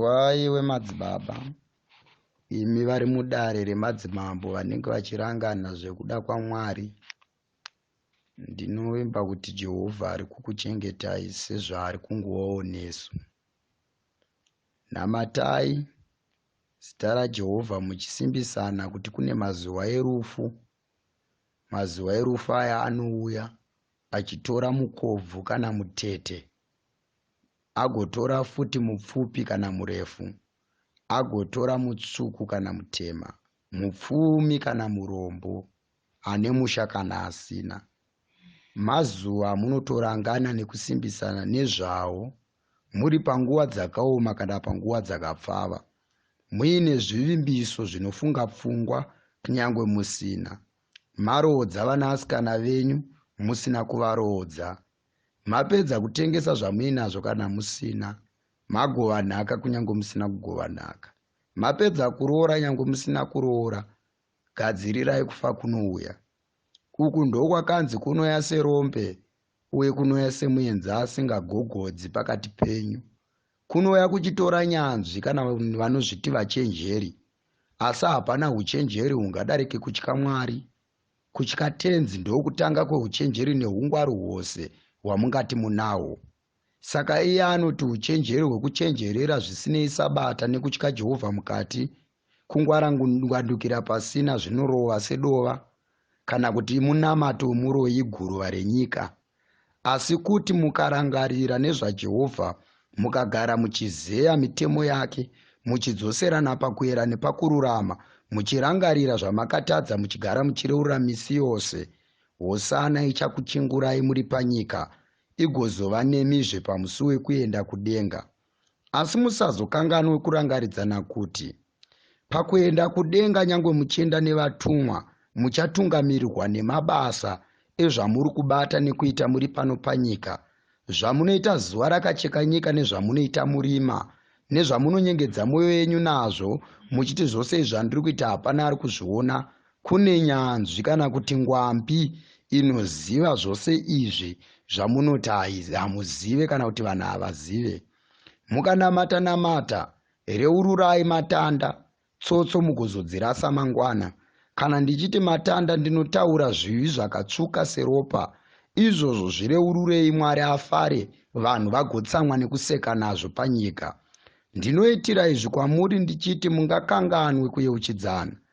waiwe madzibaba imi vari mudare remadzimambo vanenge vachirangana zvekuda kwamwari ndinovimba kuti jehovha ari kukuchengetai sezvaari kunguvawo nesu namatai zita rajehovha muchisimbisana kuti kune mazuva erufu mazuva erufu aya anouya achitora mukobvu kana mutete agotora futi mupfupi kana murefu, agotora mutsvuku kana mutema, mupfumi kana murombo, ane musha kana asina. Mazuva amunotorangana nekusimbisana nezvawo muri panguva dzakaoma kana panguva dzakapfava, muine zvivimbiso zvinofunga pfungwa kunyange musina. Maroodza vanasikana venyu musina kuvaroodza Mapedza kutengesa zvamuinazvo kana musina. Magova nhaka kunyange musina kugova nhaka. Mapedza kuroora nyange musina kuroora. Gadzirirai kufa kunouya. Uku ndokwakanzi kunoya serombe uye kunoya semuenza asingagogodzi pakati penyu. Kunoya kuchitora nyanzvi kana vanozviti vachenjeri. Asi hapana uchenjeri hungadarike kutya Mwari Kutya Tenzi ndokutanga kweuchenjeri neungwaru hwose hwamungati munahwo. Saka iye anoti uchenjeri hwekuchenjerera zvisinei Sabata nekutya Jehovha mukati, kungwarangwandukira pasina zvinorova sedova, kana kuti munamato wemuroyi guruva renyika. Asi kuti mukarangarira nezvaJehovha, mukagara muchizeya mitemo yake, muchidzoserana pakuyera nepakururama, muchirangarira zvamakatadza muchigara muchireurura misi yose, Hosana ichakuchingurai muri panyika, igozova nemizve pamusi wekuenda kudenga. Asi musazokanganwe kurangaridzana kuti pakuenda kudenga nyangwe muchienda nevatumwa muchatungamirirwa nemabasa ezvamuri kubata nekuita muri pano panyika zvamunoita zuva rakacheka nyika nezvamunoita murima nezvamunonyengedza mwoyo yenyu nazvo muchiti zvose izvi zvandiri kuita hapana ari kuzviona Kune nyanzvi kana kuti ngwambi inoziva zvose izvi zvamunoti hamuzive kana kuti vanhu havazive. Mukanamata namata, reururai matanda, tsotso mugozodzirasa mangwana. Kana ndichiti matanda ndinotaura zvivi zvakatsvuka seropa. Izvozvo zvireururei Mwari afare, vanhu vagotsamwa nekuseka nazvo panyika. Ndinoitira izvi kwamuri ndichiti mungakanganwe kuyeuchidzana.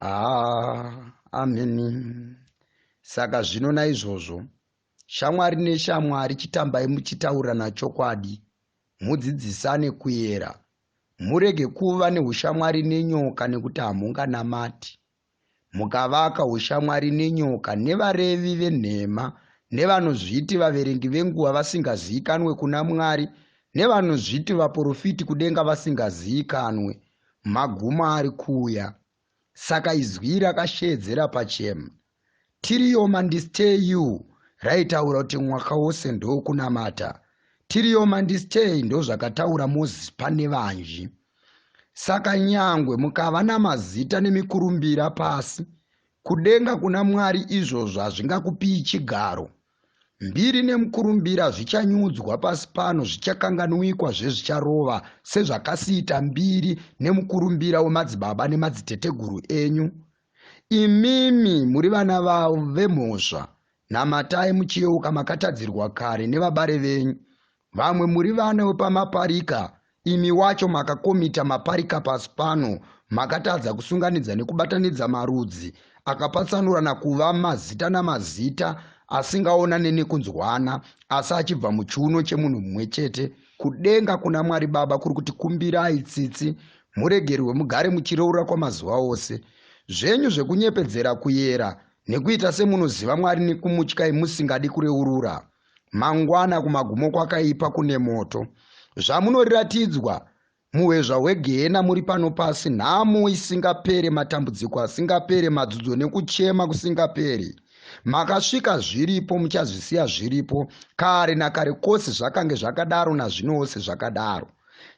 haa ameni saka zvino naizvozvo shamwari neshamwari chitambai muchitaurirana chokwadi mudzidzisane kuyera murege kuva neushamwari nenyoka nekuti hamunganamati mukavaka ushamwari nenyoka nevarevi venhema nevanozviti vaverengi venguva vasingaziikanwe kuna mwari nevanozviti vaprofiti kudenga vasingaziikanwe maguma ari kuuya saka izwi rakasheedzera pachema tiriyo mandistay you raitaura kuti mwaka wose ndokunamata tiriyo mandistay ndozvakataura moses pane vanji saka nyangwe mukava namazita nemikurumbira pasi kudenga kuna mwari izvozvo hazvingakupii chigaro Mbiri nemukurumbira zvichanyudzwa pasi pano zvichakanganwikwa zvezvicharova sezvakasiita mbiri nemukurumbira wemadzibaba nemadziteteguru enyu. Imimi muri vana vavo vemhosva, namatai muchiyeuka makatadzirwa kare nevabare venyu, Vamwe muri vana wepamaparika, imi wacho makakomita maparika pasi pano, makatadza kusunganidza nekubatanidza marudzi akapatsanurana kuva mazita namazita asingaonane nekunzwana asi achibva muchiuno chemunhu mumwe chete kudenga kuna mwari baba kuri kuti kumbirai tsitsi muregerwe mugare muchireurura kwamazuva ose zvenyu zvekunyepedzera kuyera nekuita semunoziva mwari nekumutyai musingadi kureurura Mangwana kumagumo kwakaipa kune moto. Zvamunoratidzwa muhwezva hwegehena muri pano pasi, nhamo isingapere, matambudziko asingapere, madzudzo nekuchema kusingaperi. Makasvika zviripo, muchazvisiya zviripo. Kare nakare kose zvakange zvakadaro, nazvino wose zvakadaro.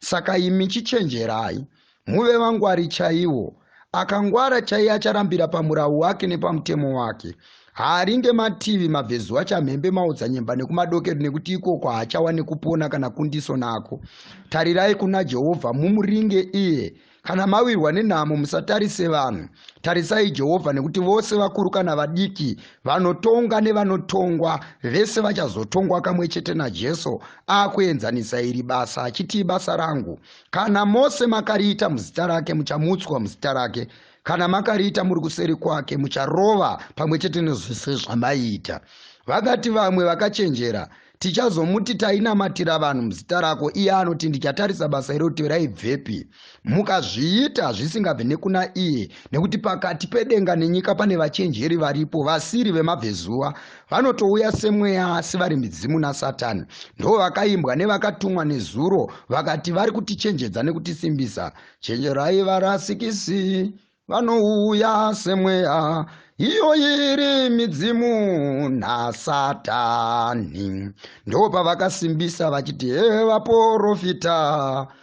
Saka imi chichenjerai, Muve vangwari chaiwo. Akangwara chaiye acharambira pamurawu wake nepamutemo wake. Haaringe mativi mabvezuva chamhembe maodzanyemba nekumadokero nekuti ikoko haachawa nekupona kana kundiso nako. Tarirai kuna Jehovha mumuringe iye. Kana mawirwa nenhamo musatarise vanhu. Tarisai Jehovha nekuti vose vakuru kana vadiki vanotonga nevanotongwa vese vachazotongwa kamwe chete naJesu akuenzanisa iri basa achiti ibasa rangu. kana mose makariita muzita rake muchamutswa muzita rake kana makariita muri kuseri kwake mucharova pamwe chete nezvese zvamaiita vakati vamwe vakachenjera tichazomuti tainamatira vanhu muzita rako iye anoti ndichatarisa basa iroti raibvepi mukazviita zvisingabve nekuna iye nekuti pakati pedenga nenyika pane vachenjeri varipo vasiri vemabvezuva vanotouya semweya asi vari midzimu nasatani ndo vakaimbwa nevakatumwa nezuro vakati vari kutichenjedza nekutisimbisa chenjerai varasikisi vanouya semweya iyo iri midzimu nasatani ndo pavakasimbisa vachiti hevaporofita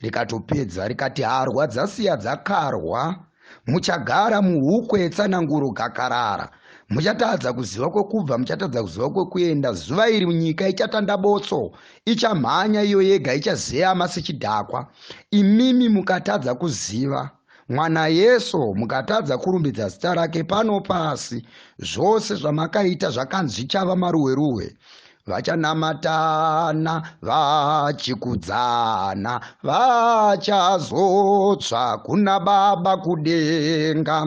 rikatopedza rikati harwa dzasiya dzakarwa muchagara muhukwe tsananguro gakarara muchatadza kuziva kwekubva muchatadza kuziva kwekuenda zuva iri nyika ichatanda botso ichamhanya iyo yega ichazeyama sechidhakwa imimi mukatadza kuziva Mwana Yesu, mukatadza kurumbidza zita rake pano pasi, zvose zvamakaita zvakanzi zvichava maruweruwe vachanamatana vachikudzana vachazotsva kuna baba kudenga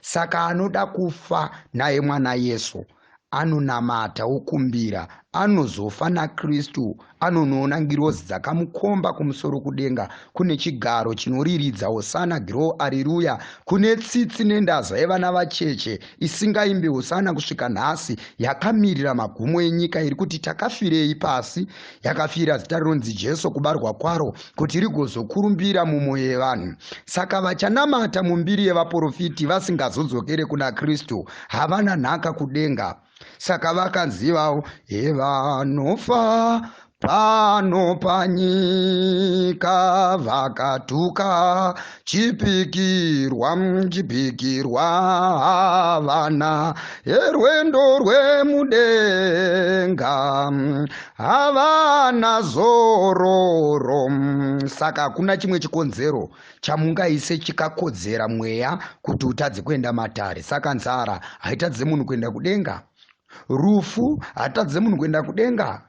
saka anoda kufa naye mwana yesu anonamata okumbira anozofa nakristu anonoona ngirozi dzakamukomba kumusoro kudenga kune chigaro chinoriridza hosana giro ariruya kune tsitsi nendaza yevana vacheche isingaimbi hosana kusvika nhasi yakamirira magumo enyika iri kuti takafirei pasi yakafira zita rinonzi jesu kubarwa kwaro kuti rigozokurumbira mumwoyo yevanhu saka vachanamata mumbiri yevaprofiti vasingazodzokere kuna kristu havana nhaka kudenga saka vakanzivawo hevanofa pano panyika vakatuka chipikirwa chipikirwa havana herwendo rwemudenga havana zororo saka hakuna chimwe chikonzero chamungaise chikakodzera mweya kuti utadze kuenda matare saka nzara haitadze munhu kuenda kudenga rufu hatadze munhu kuenda kudenga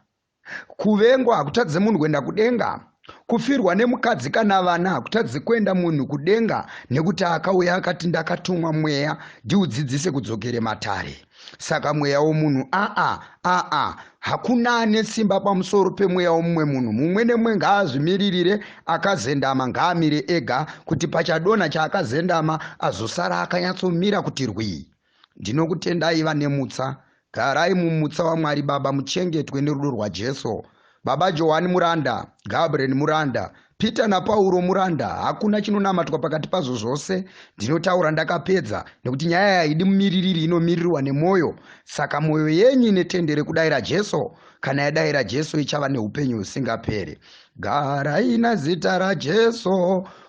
kuvengwa hakutadze munhu kuenda kudenga kufirwa nemukadzi kana vana hakutadze kuenda munhu kudenga nekuti akauya akati ndakatumwa mweya ndiudzidzise kudzokere matare saka mweya womunhu aa aa hakuna ane simba pamusoro pemweya womumwe munhu mumwe nemwe ngaazvimiririre akazendama ngaamire ega kuti pachadonha chaakazendama azosara akanyatsomira kuti rwii Ndinokutendai vane mutsa. Garai mumutsa waMwari Baba muchengetwe nerudo rwaJesu. Baba Johani muranda, Gabriel muranda, Peter naPauro muranda, hakuna chinonamatwa pakati pazvo zvose. Ndinotaura ndakapedza nekuti nyaya yaidi mumiririri inomirirwa nemwoyo. Saka mwoyo yenyu ine tendere kudaira Jesu. Kana yadaira Jesu ichava neupenyu husingaperi. Garai nazita raJesu